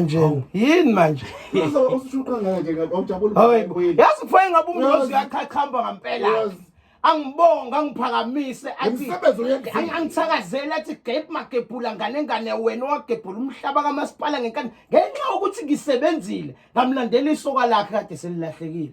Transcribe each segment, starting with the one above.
nje yini manje yazi kufanele ngabe umngozi uyachachamba ngampela angibonga angiphakamise angithakazele athi gep magebhula ngane ngane wena owagebhula umhlaba kamasipala ngenkani ngenxa yokuthi ngisebenzile ngamlandela isoka lakhe kade selilahlekile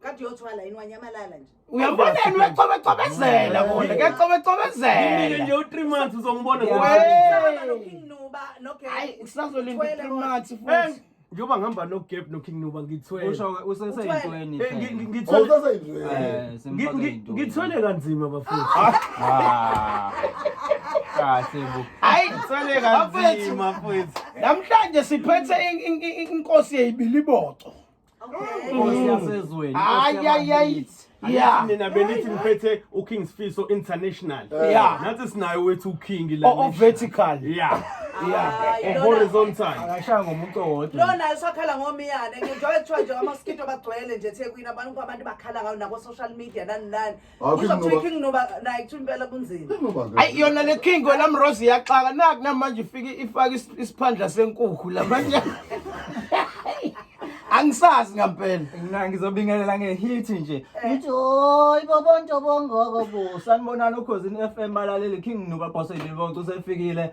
kade uyothwala yini wanyamalala nje uyabonani uyacobecobezela kona kuyacobecobezela nje u-three months uzongibona njengoba ngihamba nogap noking nuba ngithwelengithwele eh, kanzima bafuni kahle bo hayi ngithwele kanzima futhi namhlanje siphethe inkosi yeyibiliboco nina benithi ngiphethe uking sfiso international Yeah. nathi sinayo wethu uking la o vertical yeah yeah Hayi, lona- horizontal akashaya ngomuntu owodwa lona usakhala ngomiyane ngenjengoba kuthiwa nje amaskito bagcwele nje ethekwini abantu abantu bakhala ngayo nako-social media nani nani Uzothuka king noba naye kuthiwa impela kunzima. Ayi yona le king wena mrose iyaxaka naku namanje ifike ifaka is- isiphandla senkukhu la manje. Angisazi ngampela. Mina ngizobingelela ngehithi nje. Ngithi hoy bobo ntobongoko bo. Sanibonani ukhozini FM balaleli King Nuba Boss Ilibonke usefikile.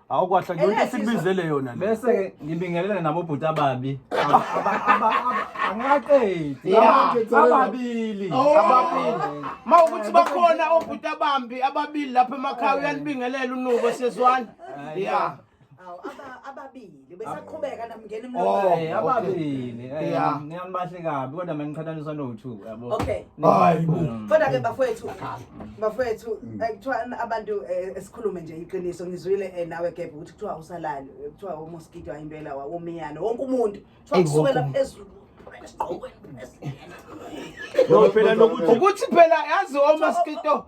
Hawu kwahla yonke Elesizwe. sikubizele yona le. Bese ke ngibingelele nabo bhuti ababi. Aba- aba- aba- Angaqedi. Yeah. Ababili. ababili ma ukuthi bakhona obhuti abambi ababili lapha emakhaya uyanibingelela unubo sezwana ya Awu aba- ababili besaqhubeka namngena Oh. emlomeni. Eh, ababili. Eh, Yeah. Niyanibahle kabi kodwa maniqhathaniswa no-two yabo. Okay. Hayi bo. Mm. Kodwa ke bafowethu bafowethu mm. eh, kuthiwa abantu eh, esikhulume nje iqiniso ngizwile eh, nawe gebhe ukuthi kuthiwa usalali kuthiwa umoskito ayimpela wawomiyane wonke umuntu kuthiwa kusukela phezulu phela nokuthi ukuthi phela yazi omaskito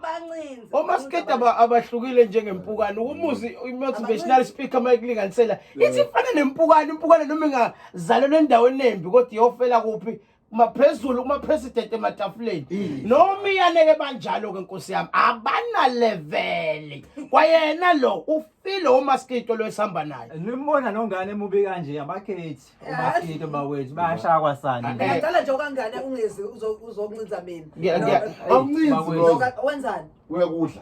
omaskito abahlukile njengempukane ukumuzi i-motivational speaker uma ikulinganisela ithi ifana nempukane impukane noma ingazalelwa endaweni embi kodwa iyofela kuphi maphezulu uma president ematafuleni noma iyaneke banjalo ke nkosi yami abana level kwayena lo ufile umaskito lo esihamba naye nimbona nongane mubi kanje abakhethi umaskito bakwethu bayashaya kwasani ngiyadala nje okangane ungezi uzokuncinza mina awuncinzi wenzani uyakudla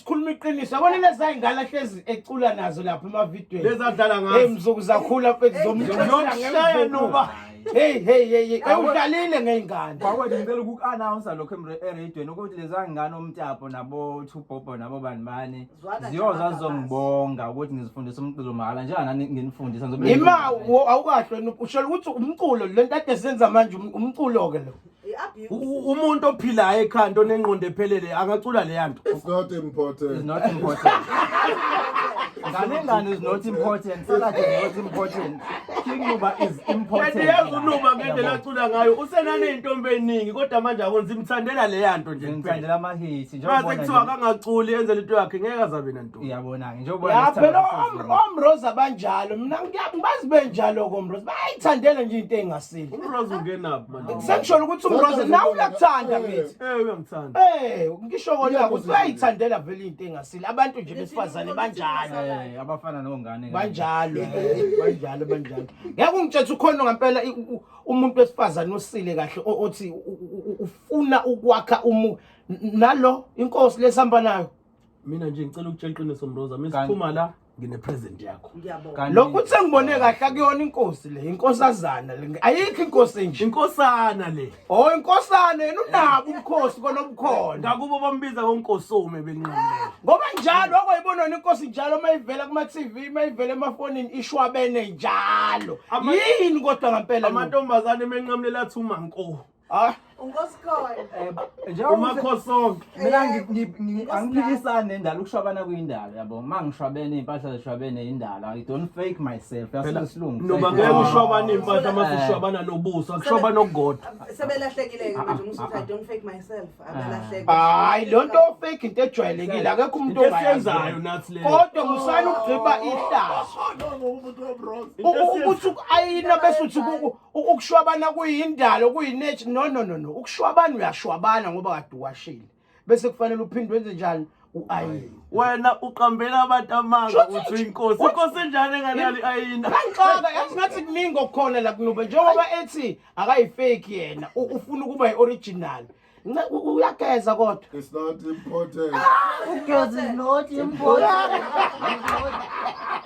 sikhuluma iqiniso yabona leza ingane hlezi ecula nazo lapha emavidweni lezadlala ngazo hey mzuku zakhula mfethu zomshaya ngempela nuba hey hey hey ewudlalile ngeingane bawo ngicela uku announce lokho eRadio nokuthi leza ngane omtapo nabo two bobo nabo banibani ziyoza zongibonga ukuthi ngizifundisa umculo mahala njenga nani nginifundisa ngizobe ima awukahle usho ukuthi umculo lento ade senza manje um, umculo ke lo umuntu ophilayo ekhanda onengqondo ephelele angacula leya nto it's not important it's not important ngane ngane is not important salad is not important king nuba is important kanti yazi unuba ngendlela acula ngayo usenane intombi eningi kodwa manje akonzi imthandela leya nto nje ngithandela ama hits njengoba kuthiwa akangaculi enze into yakhe ngeke azabe nani uyabona-ke njengobaomroza banjalo mina ngiyabazi benjalo komroza bayayithandela nje into engasile umroza ungenaphi manje sengisholo ukuthi umroza nawe uyakuthanda mithi eh uyangithanda eh ngisho kona ukuthi uyayithandela vele into engasile abantu nje besifazane banjalo eh abafana nongane banjalo banjalo banjalo ngeke ungitshethe ukhona ngempela umuntu wesifazane osile kahle othi ufuna ukwakha umu nalo inkosi lesihamba nayo mina nje ngicela ukutshela iqiniso mroza mina Kanti- siphuma la ngine-present yakho ngiyabonga Kanti- lokhu ukuthi engibone kahle akuyona inkosi le inkosazana le ayikho inkosi enje inkosana le o inkosana yena unabo ubukhosi kona obukhona ngakubo bambiza ngonkosome benqamlela ngoba njalo wakwayibonona inkosi njalo uma ivela kuma-tv uma ivela emafonini ishwabene njalo Ama- yini kodwa ngampela lo? amantombazane emenqamulela athi umanko Ah, Unkosikole. eh, njengoba uma kho sonke. mina ngi- ngi- ngi- Nkosi angiphikisani nendalo ukushwabana kuyindalo yabo uma ngishwabene iy'mpahla zishwabene yindalo i don't fake myself Phela, yasuke isilungu Noma ngeke ushwabane impahla uma sishwabana nobuso, akushwabana okukodwa. Sebelahlekile-ke manje uma usuthi I don't fake myself. Abalahleke. Hayi lo nto ofake into ejwayelekile akekho umuntu Into esiyenzayo ongayazi. nathi le. Kodwa musani ukugqiba ihlazo. Into esiyenzayo. Ukuthi uku-ayina bese uthi kuku- ukushwabana kuyindalo kuyinethi no no no no ukushwabana uyashwabana ngoba kade uwashile bese kufanele uphinde wenze njani uayini wena uqambela abantu amanga uthi uyinkosi inkosi enjani engalali ayina kanxaka yazi ngathi kuningi okukhona la kunube njengoba ethi akayifeki yena ufuna ukuba yi-original Nca- u- uyageza kodwa It's not important. Ugezi not important.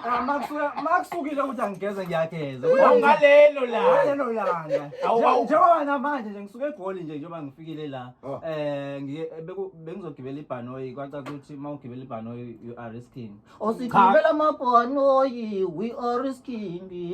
Ah, makusuka- makusukile ukuthi angigeze ngiyageza awungalelo la Ngalelo langa Awu, Nje- awu. njengoba namanje nje ngisuke egoli nje njengoba ngifikile la Ah. eh ngiye- beku- bengizogibela ibhanoyi kwacaca ukuthi uma ugibela ibhanoyi you are risking osigibela amabhanoyi we are risking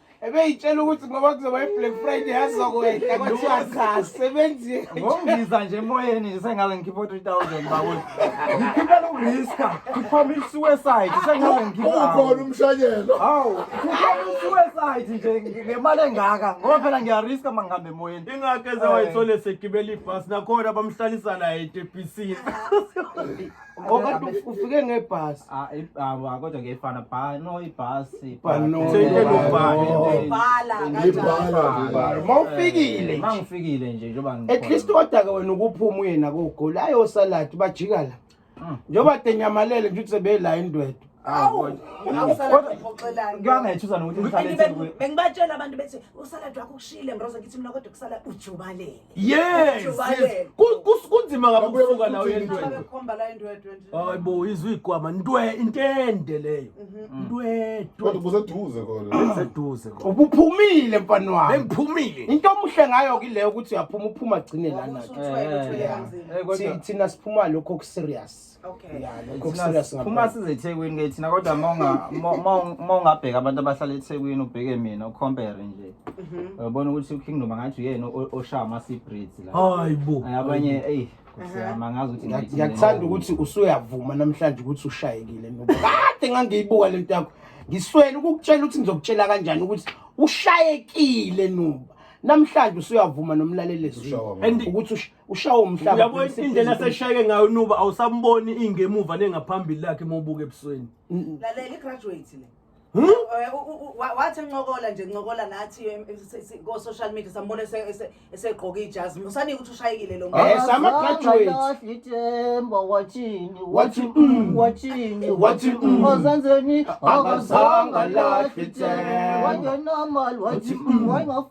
ebeyitshela ukuthi ngoba kuzoba i-black friday yazokwehla kwathiwa cha sebenzi ngongiza nje emoyeni nje sengaze ngikhiphe u-three thousand bakuthi ngikhiphela ukuriska kuphoma i-suicide sengaze ngikhiphe umshanyelo hawu kuphoma i-suicide nje ngemali engaka ngoba phela ngiyariska uma ngihamba emoyeni ingakho eze wayithole segibela ibhasi nakhona bamhlalisa naye etebhisini Ngoba ufike ngebhasi. Ah, ah kodwa ngefana bha no ibhasi. Bha no. Ibhala kanjalo. Mawufikile. Eh, Mangifikile nje njengoba ngikhona. At least kodwa ke wena ukuphuma uye nako ugoli ayo salad bajika la. Hmm. Njengoba denyamalele nje ukuthi sebeyila indwedo. Awu, awusalad ngixoxelani. Ngiyangethusa nokuthi ngisalad. Bengibatshela abantu bethi usalad wakho kushile ngiroza ngithi mina kodwa kusala ujubalele. yes Ujubayele. Ku- kus- kunzima kabi Babuye ukusuka la uye bakuthuthe ntwende Abekhomba la indwedwe nje. hayi bo izwe igwama ntwe intende leyo ntwetwe kodwa kuseduze kona seduze ko ubuphumile mfana wami bengiphumile into omuhle ngayo kileyo ukuthi uyaphuma uphuma agcine lana Usuthwele, uthwele kanzima. Eh, kodwa- Thi- thina siphuma lokho okuserious Okay. Yeah, no, it's Cook not- serious phuma ngampela. size ethekwini ke thina kodwa uma unga- uma- uma unga- uma ungabheka abantu abahlala ethekwini ubheke mina ucompare nje Mhm. uyabona ukuthi ukingdom angathi uyena o- oshaya ama-sea breeds la hayi bo Ay, abanye eyi kusiyama ngazi ukuthi Ngiya- ngithini. ngiyakuthanda ukuthi usuyavuma namhlanje ukuthi ushayekile no kade ngangiyibuka lento yakho ngiswele ukukutshela ukuthi ngizokutshela kanjani ukuthi ushayekile nuba namhlanje usuyavuma nomlalelezwi Ushawa ngani? ukuthi ush- ushawa umhlaba uyabo indlela seshayeke ngayo nuba awusamboni ingemuva nengaphambili lakhe uma ubuka ebusweni lalela igraduate le Hmm? Eh, wathi ncokola nje ncokola nathi eh, eh, ko social media sambona esegqoka ijazi musani ukuthi ushayekile lo muntu yes ama graduates ithemba wathini wathi mm. wathini wathi mm. ozanzeni akazanga lahle ithemba wathi normal wathi mm.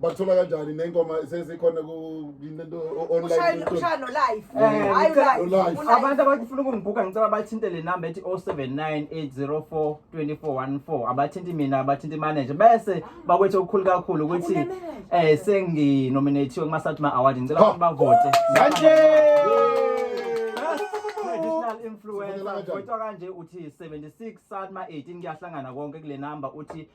bakuthola kanjani nengoma sesikhona online ushaya no live Eh, hayi ngicela- live Live. Ku-live. abantu abafuna ukungibhuka ngicela bathinte le namba ethi 0798042414 abathinti mina abathinti manager bese bakwethe okukhulu kakhulu ukuthi eh senginominathiwe kuma-satma award ngicela Ha. ukuthi bavote Manje! traditional influencer Sibonela kanjani? kodwa kanje uthi 76 satma 18 kuyahlangana konke kule namba uthi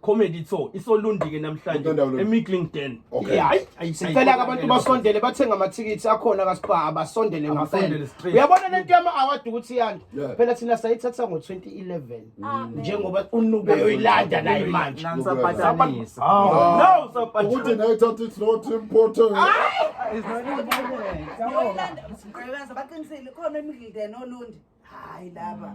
comedy tho isolundike namhlanje Udondolo. emiglingden Okay. hayi ayi- sicela-ke ayi- abantu basondele bathenge amathikithi akhona kasibhaha basondele Abasondele ngempela straight. uyabona lento yama-award ukuthi iyanda Yeah. phela thina sayithatha ngo-2011 Amen. njengoba unube yoyilanda naye manje Nangisabhatanisa. Awu, no, saphatha. ukuthi nayo ithatha it's not important Yoyilanda, Mgqebenza, baqinisile khona emgideni olundi hayi laba